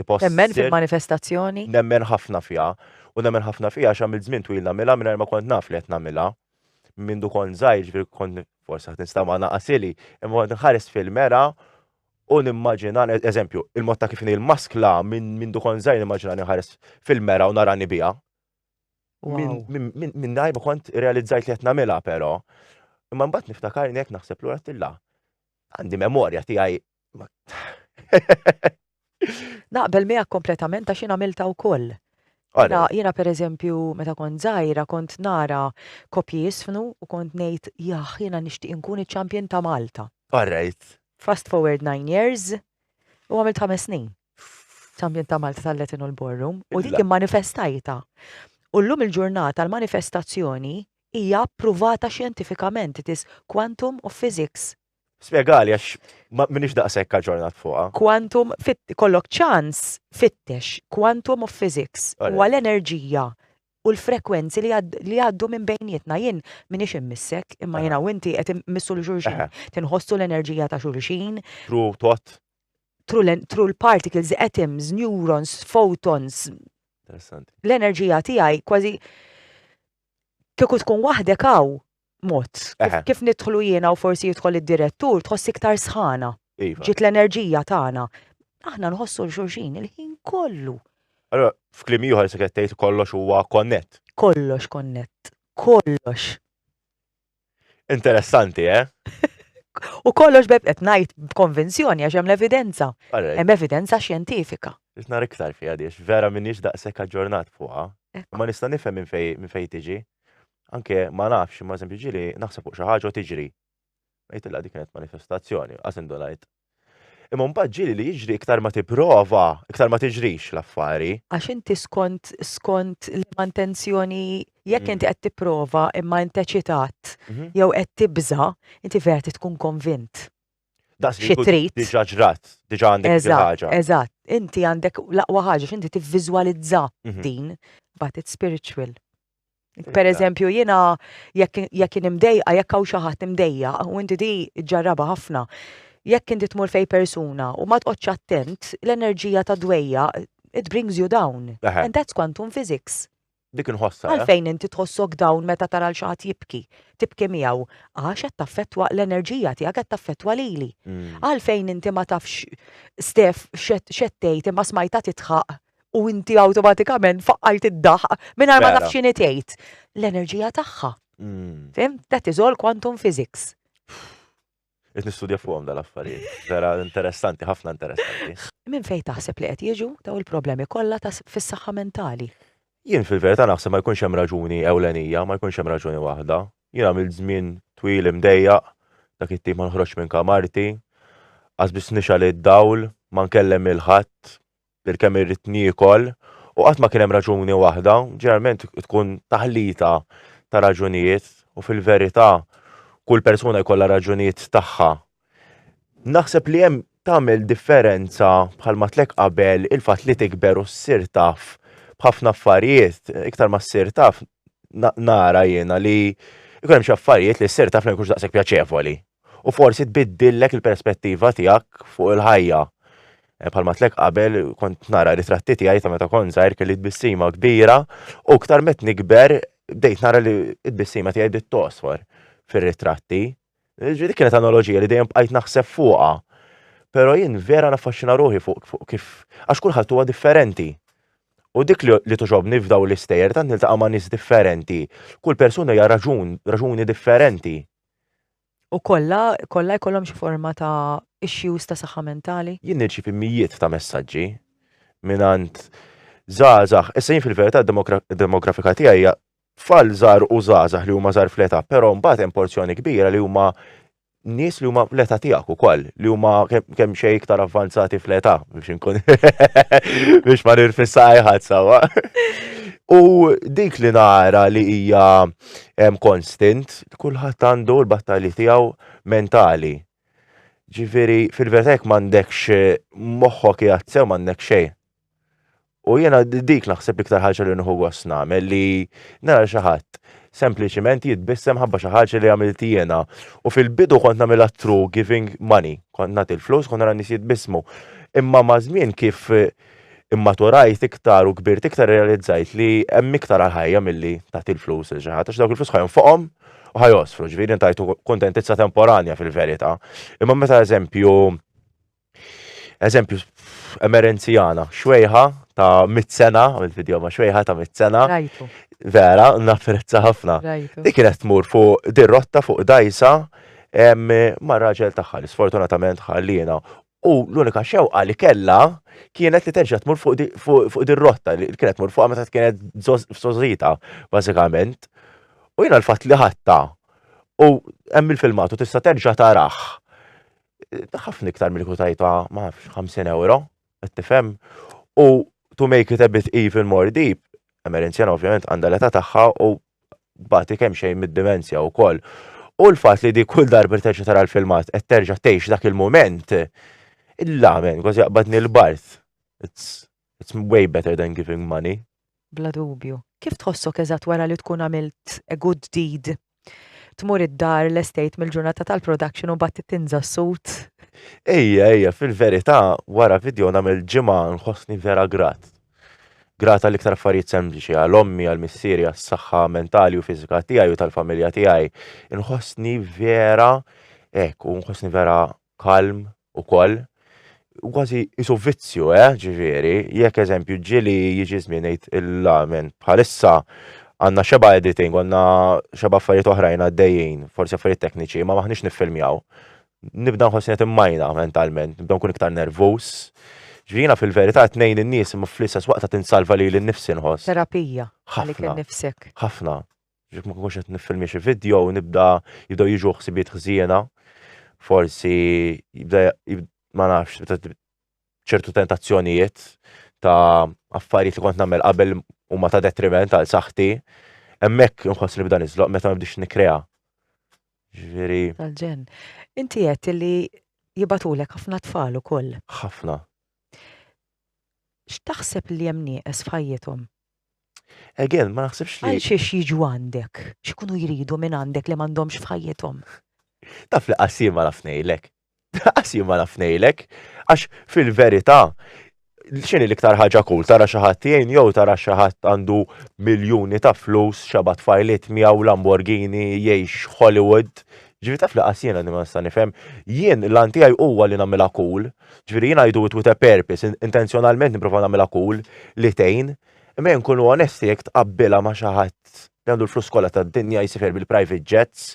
B: Tipo
A: Nemmen ssir- fil-manifestazzjoni. nemmen ħafna
B: fiha u nemmen ħafna fiha għax għamilt żmien twil nagħmilha mingħajr ma kont naf li qed nagħmilha. Mindu kont żgħir ġifieri kont forsi qed nista' ma naqasili, imma kont nħares fil-mera u nimmaġina eżempju, il-mod ta' kif inhi l-maskla minn mindu kont żgħir nimmaġina li nħares fil-mera u narani biha. Min- Wow. min- min- Mingħajr ma kont realizzajt li qed nagħmilha però. Imma mbagħad niftakar jekk naħseb lura tilla. Għandi memorja tiegħi
A: Naqbel miegħek kompletament għax jiena milta wkoll. Jiena per eżempju, meta kont żgħira, kont nara kopji jisfnu u kont ngħid jaħ jiena nixtieq inkun iċ-champion ta' Malta. Alright.
B: Fast forward
A: nine years u għamilt ħames snin. Champion ta' Malta tal-Latin u l-Borrum u dik manifestajta. U llum il-ġurnata l-manifestazzjoni hija approvata xjentifikament it is quantum of physics.
B: Spjegali għax minix daqshekk aġġornat fuqha. Quantum
A: kollok ċans fittex quantum of physics u għal enerġija u l-frekwenzi li għaddu minn bejnietna jien minix immissek imma jiena u inti qed immissu l xulxin tinħossu l-enerġija ta' xulxin. Tru tot.
B: Tru
A: l-particles, atoms, neurons, photons.
B: L-enerġija tiegħi
A: kważi kieku tkun waħdek hawn mod. Kif nidħlu jiena u forsi jidħol id-direttur, tħoss iktar sħana. Iva. Ġiet l-enerġija tagħna. Aħna nħossu l-xurxin il-ħin kollu. Allora,
B: f'klim ieħor se qed tgħid kollox huwa konnett. Kollox konnett.
A: Kollox.
B: Interessanti, eh?
A: U kollox beb qed ngħid b'konvenzjoni għax hemm l-evidenza. Hemm evidenza xjentifika. Isna iktar fiha
B: diex, vera minix daqshekk aġġornat fuqha. Ma nista' nifhem minn fejn tiġi. Anke ma nafx, ma eżempju ġili, naħseb fuq xi ħaġa u tiġri. Ngħid illa dik kienet manifestazzjoni, qas indunajt. Imma mbagħad ġili li jiġri iktar ma tipprova, iktar ma tiġrix l-affari. Għax inti skont
A: skont liema intenzjoni jekk inti qed tipprova imma int eċitat jew qed tibża, inti vera trid tkun konvint. Das li trid. Diġa ġrat,
B: diġa għandek xi ħaġa. Eżatt, inti għandek
A: laqwa ħaġa x'inti tivviżwalizza mhm. din, but it's spiritual. Per eżempju, jina jekk nimdejqa, jekk hawn xi ħadd imdejja, u inti di ġarraba ħafna, jekk inti tmur fej persuna u ma tqgħodx attent, l-enerġija ta' dwejja it brings you down. And that's quantum physics. Dik inħossha.
B: Għalfejn inti tħossok
A: down meta tara l xi ħadd jibki? Tibki miegħu għax qed taffettwa l-enerġija tiegħek qed taffettwa lili. Mm. Għalfejn inti ma tafx Stef x'qed tgħid imma smajta titħaq u inti awtomatikament faqqajt id-daħq mingħajr ma tafx x'inhi tgħid. L-enerġija tagħha. Mm. Fim? That is all quantum physics.
B: Qed nistudja fuqhom dal-affarijiet. Vera interessanti, ħafna interessanti. Minn fejn taħseb
A: li qed jiġu daw il-problemi kollha ta' fis-saħħa mentali? Jien fil-verità
B: naħseb ma jkunx hemm raġuni ewlenija, ma jkunx hemm raġuni waħda. Jien għamil żmien twil imdejjaq, dak it-tim ma nħroġx minn kamarti, qas biss nixal id-dawl, ma nkellem il-ħadd, Bil kemm irrid niekol u qatt ma kien hemm raġuni waħda, ġeneralment tkun taħlita ta' raġunijiet u fil-verità kull persuna jkollha raġunijiet tagħha. Naħseb li hemm tagħmel differenza bħal matlek qabel il-fatt li tikber u ssir taf b'ħafna affarijiet, iktar ma ssir taf nara jiena li jkun hemm xi affarijiet li ssir taf li ma jkunx daqshekk pjaċevoli. u forsi tbiddillek il-perspettiva tiegħek fuq il-ħajja. Eh, bħalma tlek qabel kont nara ritratti tiegħi ta' meta kont żgħir kelli tbissima kbira u ktar met nikber bdejt nara li tbissima tiegħi bdiet tosfor fir-ritratti. Ġifieri dik kienet analogija li dejjem bqajt naħseb fuqha. Però jien vera naffaxxina ruħi fuq kif għax kulħadd huwa differenti. U dik li tuġobni f'daw l-istejjer tant niltaqa' ma' nies differenti. Kull persuna hija raġun, raġuni differenti.
A: U kollha, kollha jkollhom xi forma ta' issues ta' saħħa mentali? Jien nirċievi mijiet
B: ta' messaġġi mingħand żgħażagħ. Issa jien fil-verità d-demografika tiegħi hija tfal żgħar u żgħażagħ li huma żgħar fl-età, però mbagħad hemm porzjoni kbira li huma nies li huma l-età tiegħek ukoll, li huma kemm xejn iktar avvanzati fl-età biex inkun biex ma nirfissa ħadd sewwa. U dik li nara li hija konstant kulħadd għandu l-battalji tiegħu mentali. Ġifieri fil-verità jekk m'għandekx moħħok qiegħed sew m'għandek xejn. U jiena dik naħseb l-iktar ħaġa li nħu gost nagħmel li nara xi ħadd sempliċiment jitbissem ħabba xi ħaġa li għamilt jiena. U fil-bidu kont nagħmilha true giving money, kont nagħti l-flus, kont nara nies jitbissmu. Imma ma' żmien kif Immaturajt iktar u kbirt iktar irrealizzajt li hemm iktar għall-ħajja milli tagħti l-flus lil xi ħadd għax dawk il-flus ħa jonfoqhom u ħa jgħosfru, ġifieri ngħidu kuntentizza temporanja fil-verità. Imma meta eżempju eżempju emerenzjana, xwejħa ta' mit sena, għamilt video ma' xwejħa ta' mit sena. Vera, napprezza ħafna. Dik kienet tmur fuq dir-rotta fuq dajsa ma' raġel tagħha li sfortunatament ħalliena U l-unika xewqa li kellha kienet li terġa' tmur fuq din rotta li kienet tmur fuqha meta kienet f'sożita, bażikament. U jiena l-fatt li ħadta u hemm il-filmat u tista' terġa' tarah. Ħafna iktar milli kieku tajtha ma nafx 50 ewro, qed tifhem? U to make it a bit even more deep, Emerenzjana ovvjament għandha l-età tagħha u bati kemm xejn mid-dimensja wkoll. U l-fatt li di kull darba terġa' tara l-filmat qed terġa' tgħix dak il-mument, la men, kważi jaqbadni l-bard. It's, it's way better than giving money. Bla dubju.
A: Kif tħossok eżatt wara li tkun għamilt a good deed? Tmur id-dar, l-estate mill-ġurnata tal-production u mbagħad tinża s-sut? Ejja, ejja,
B: fil-verità wara video nagħmel ġimgħa nħossni vera grat. Grat għall-iktar affarijiet sempliċi, għal ommi, għal missieri, għas-saħħa mentali u fiżika tiegħi u tal-familja tiegħi. Inħossni vera hekk u nħossni vera kalm ukoll. Kważi isu vizzju, eh, ġifieri, jekk eżempju ġieli jiġi żmien ngħid il-lamen bħalissa għandna xeba' editing, għandna xeba' affarijiet oħrajn għaddejjin, forsi affarijiet tekniċi, ma maħniex niffilmjaw. nibda nħossni qed immajna mentalment, nibda nkun iktar nervuż. Ġvina fil-verità tnejn in-nies imma fl-istess waqt qed insalva lili nnifsi nħoss. Terapija għalik
A: innifsek. Ħafna.
B: Ġek ma kunx qed niffilmi xi video u nibda jibdew jiġu ħsibiet ħżiena. Forsi jibda ma nafx ċertu tentazzjonijiet ta' affarijiet li kont nagħmel qabel huma ta' detriment għal saħħti. Hemmhekk inħoss li bda niżloq meta ma bdiex nikkrea. Ġifieri. Tal-ġen.
A: Inti qed li jibatulek ħafna tfal ukoll. Ħafna. X'taħseb li hemm nieqes f'ħajjithom?
B: Again, ma naħsibx li. Għal xiex jiġu
A: għandek? X'ikunu jridu minn għandek li m'għandhomx f'ħajjithom? Taf li
B: qassim ma naf ngħidlek. Daqs jien ma naf ngħidlek, għax fil-verità x'inhi l-iktar ħaġa kull tara xi ħadd jgħin jew tara xi ħadd għandu miljuni ta' flus xaba' tfajliet miegħu Lamborghini jgħix Hollywood. Ġifieri taf li qas jiena li ma nista' nifhem. Jien l-għan tiegħi huwa li nagħmilha cool. Ġifieri jien I do it with a purpose, intenzjonalment nipprova nagħmilha cool li tgħin. Imma jien nkunu onesti jekk tqabbilha ma' xi ħadd li għandu l-flus kollha tad-dinja jsifher bil-private jets.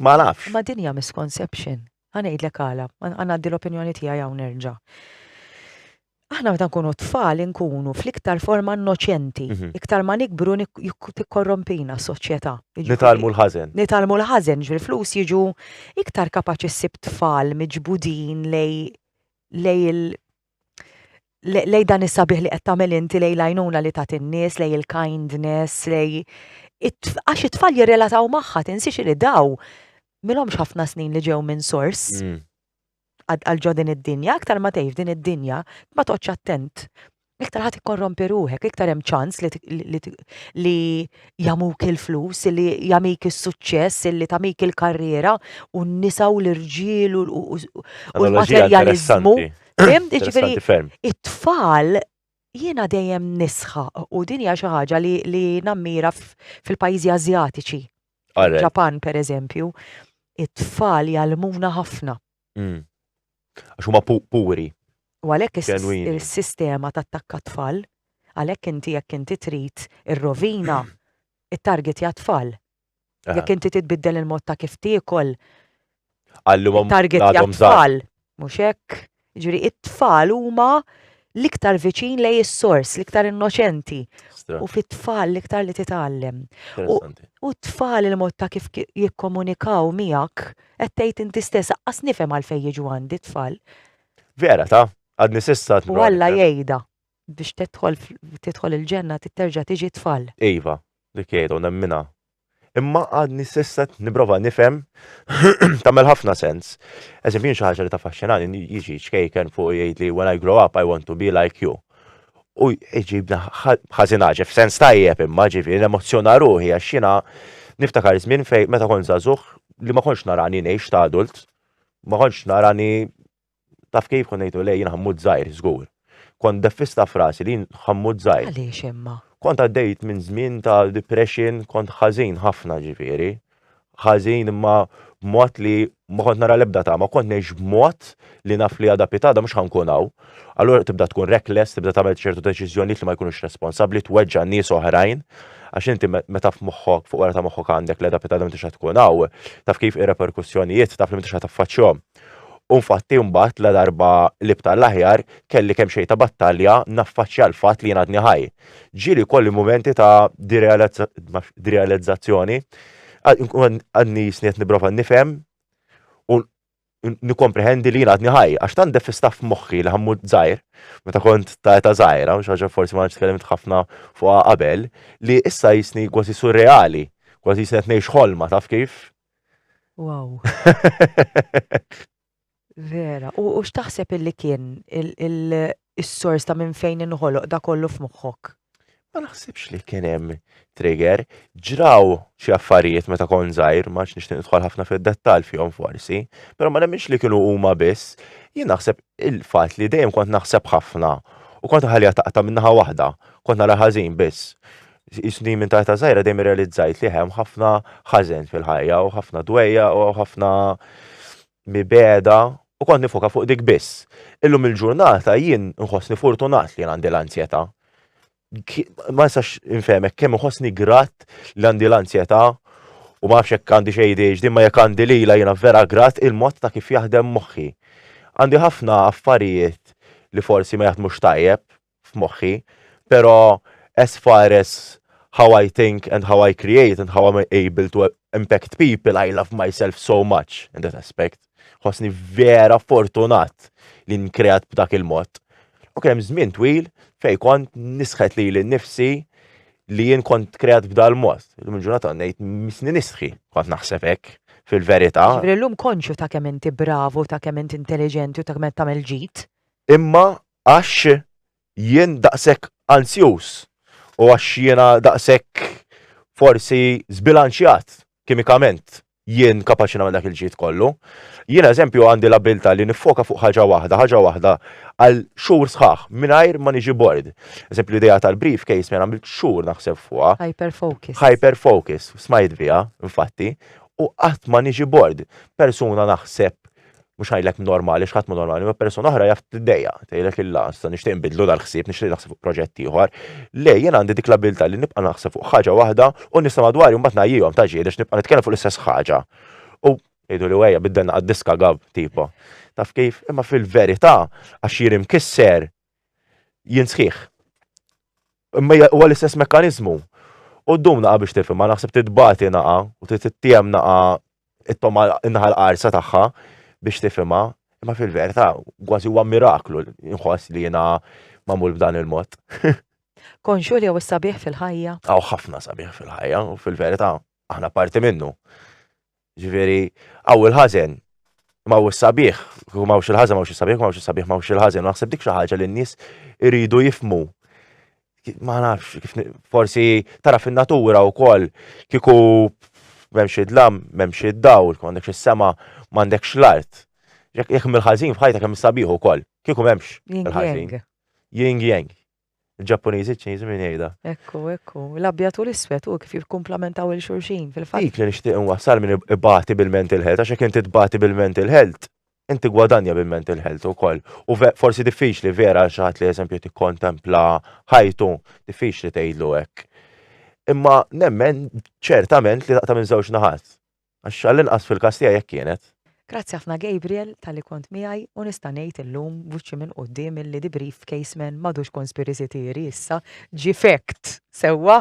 B: Ma nafx. Ma dinja misconception.
A: Għanajdlek għala, għanaddi l-opinjoni tijaj għaw nerġa. Aħna meta nkunu tfal nkunu fl-iktar forma innoċenti, mhm. iktar ma nikbru tikkorrompina s-soċjetà. Nitalmu l-ħazen.
B: Nitalmu l-ħazen, ġvil
A: flus jiġu iktar kapaċi s-sib tfal miġbudin lej lej lej dan is-sabiħ li qed tagħmel inti lej l-għajnuna li tagħti n-nies, lej il-kindness, lej għax it-tfal jirrelataw magħha tinsiex li daw milhomx ħafna snin li ġew minn sors. Mm. Għal ġo din id-dinja, aktar ma tgħix din id-dinja, ma toqgħodx attent. Iktar ħadd ikkorrompi ruħek, iktar hemm ċans li jamuk il-flus, illi jamik is-suċċess, illi tamik il-karriera, u n-nisa u l-irġiel u l-materjalizmu. Ġifiri, it-tfal jiena dejjem nisħa u din hija xi ħaġa li nammira fil-pajjiżi Azjatiċi. Ġapan, per eżempju, it-tfal jgħalmuna ħafna. Mm.
B: Għax huma puri. U għalhekk
A: is-sistema tattakka tfal, għalhekk inti jekk inti trid ir-rovina it-target ja tfal. Jekk inti titbiddel il-mod ta' kif tiekol. Għallumhom target ja tfal. Mhux hekk. Ġifieri it-tfal huma l-iktar viċin lej is-sors, l-iktar innoċenti. U fit-tfal l-iktar li titgħallem. U t-tfal il-mod ta' kif jikkomunikaw miegħek qed tgħid inti stess aqqas nifhem għalfejn jiġu għandi tfal. Vera ta'
B: għadni sissa tmur. Alla jgħidha
A: biex tidħol il-ġenna titterġa' tiġi tfal. Iva, Dik
B: jgħidha u nemminha. Imma għadni s'issa qed nipprova nifhem tagħmel ħafna sens. Eżempju jien xi ħaġa li taffaxxinani jiġi ċkejken fuq jgħidli when I grow up I want to be like you. U jġibna ħażin ħaġa f'sens tajjeb imma ġifieri nemozzjona ruħi għax jiena niftakar żmien fejn meta kont żagħżugħ li ma kontx narani ngħix ta' adult, ma kontx narani Taf kif kont ngħidlu lej jien ħammut żgħir, żgur. Kont deffista f'rasi li jien ħammut żgħir. Għaliex imma? Kont
A: għaddejt minn
B: żmien ta' depression, kont ħażin ħafna ġifieri. Ħażin imma b'mod li ma kont nara l-ebda tama, kont ngħix b'mod li naf li għada pitada mhux ħankun hawn. Allura tibda tkun reckless, tibda tagħmel ċertu deċiżjonijiet li ma jkunux responsabbli, tweġġa' nies oħrajn. Għax inti meta f'moħħok, fuq wara ta' moħħok għandek l-għada pitada m'intix tkun hawn, taf kif ir-reperkussjonijiet taf li m'intix ħadd affaċċjhom. U nfatti mbagħad ladarba li bta' l-aħjar, kelli kemxejn ta' battalja naffaċċja l-fatt li jien għadni ħaj. Ġieli jkolli mumenti ta' direalizzazzjoni, għadni jisni qed nipprova nifhem u nikkomprehendi li jien għadni ħaj, għax tant def istaff f'moħħi li ħammut żgħir, meta kont ta' età żgħira, xi ħaġa forsi ma tkellimt ħafna fuqha qabel, li issa jisni kważi surreali, kważi jisni qed ngħix ħolma, taf kif?
A: Wow. Vera. U, u x'taħseb illi kien il-sors ta' minn fejn inħoloq da kollu f'moħħok? Ma naħsibx
B: li kien hemm trigger, ġraw xi affarijiet meta kon żgħir, ma nixtieq nidħol ħafna fid-dettall fihom forsi, però ma nemminx li kienu huma biss, jien naħseb il-fatt li dejjem kont naħseb ħafna u kont ħalija taqta' minnaħa waħda, kont nara ħażin biss. isni minn ta' żgħira dejjem irrealizzajt li hemm ħafna ħażen fil-ħajja u ħafna dwejja u ħafna mibeda u kont nifoka fuq dik biss. Illum il-ġurnata jien nħossni fortunat li għandi l-anzjetà. Ma nistax infehmek kemm nħossni grat li għandi l-anzjetà u ma nafx jekk għandi xejn ADHD ma jekk għandi lila jiena vera grat il-mod ta' kif jaħdem moħħi. Għandi ħafna affarijiet li forsi ma jaħdmux tajjeb, f'moħħi, pero as far as how I think and how I create and how I'm able to impact people, I love myself so much in that aspect. Ħosni vera fortunat li nkreat b'dak il-mod. U kien hemm żmien twil fej kont nisħet li l-nifsi li jien kont kreat b'dal mod. Illum ġurnata ngħid misni nisħi kont naħseb hekk fil-verità. Ġifieri llum konxju
A: ta' kemm inti bravu, ta' kemm inti intelligenti u ta' kemm tagħmel ġid. Imma
B: Għax jien daqshekk anzjuż u għax jiena daqshekk forsi żbilanċjat kimikament, jien kapaċi nagħmel dak il-ġid kollu. Jiena eżempju għandi l-abbiltà li niffoka fuq ħaġa waħda, ħaġa waħda għal xhur sħaħ mingħajr ma niġi bored. Eżempju l-idea tal-brief case minn għamilt xhur naħseb fuqha. Hyper focus. Hyper focus, smajt biha, infatti, u qatt ma niġi bored. Persuna naħseb mhux ngħidlek normali, x'ħadd mhu normali, ma persuna oħra jaf tiddejja, tgħidlek illa, sa nixtieq nbidlu dal-ħsieb, nixtieq naħseb fuq proġett ieħor. Le, jien għandi dik l-abilità li nibqa' naħseb fuq ħaġa waħda u nista' madwari mbagħad ngħajjihom ta' ġieli nibqa' nitkellem fuq l-istess ħaġa. U jgħidu li wejja biddelna għad-diska gab tipo. Taf kif? Imma fil-verità għax jien imkisser jien sħiħ. Imma huwa l-istess mekkaniżmu. U ddum naqa' biex tifhem, ma naħseb titbati naqa' u tittiegħem naqa' it-toma naħa l-qarsa tagħha biex tifhimha, imma fil-verità kważi huwa miraklu nħoss li jiena magħmul b'dan il-mod. Konxu
A: li hawn is-sabiħ fil-ħajja? Hawn ħafna sabiħ
B: fil-ħajja u fil-verità aħna parti minnu. Ġifieri, hawn il-ħażen, ma hawn is-sabiħ, kieku ma hawnx il-ħażen ma hawnx is-sabiħ, ma hawnx is-sabiħ ma hawnx il-ħażen, u naħseb dik xi ħaġa li n-nies iridu jifhmu. Ma nafx, kif ni- forsi tara fin-natura wkoll kieku m'hemmx id-dlam, m'hemmx id-dawl, ma għandekx is-sema, ma għandekx l-art. Jekk jekk mill-ħażin f'ħajtek hemm is-sabiħ ukoll, kieku m'hemmx Yin il-ħażin. yang. Yin yang. Il-Ġappuniżi, ċ-Ċiniżi min jgħidha. Ekku, ekku.
A: L-abjad u l-iswed u kif jikkumplamentaw il xulxin fil-fatt. Dik li nixtieq inwassal
B: min ibati bil-mental health, għax jekk inti tbati bil-mental health, inti gwadanja bil-mental health ukoll. U forsi diffiċli vera għal xi ħadd li eżempju tikkontempla ħajtu, diffiċli tgħidlu hekk. Imma nemmen ċertament li taqta' minn żewġ naħat. Għax għall-inqas fil-każ tiegħi hekk kienet. Grazzi ħafna
A: Gabriel talli kont miegħi u nista' ngħid illum b'wiċċi minn quddiem illi The Brief Case Man m'għadux conspiracy theory issa ġie fact! Sewwa?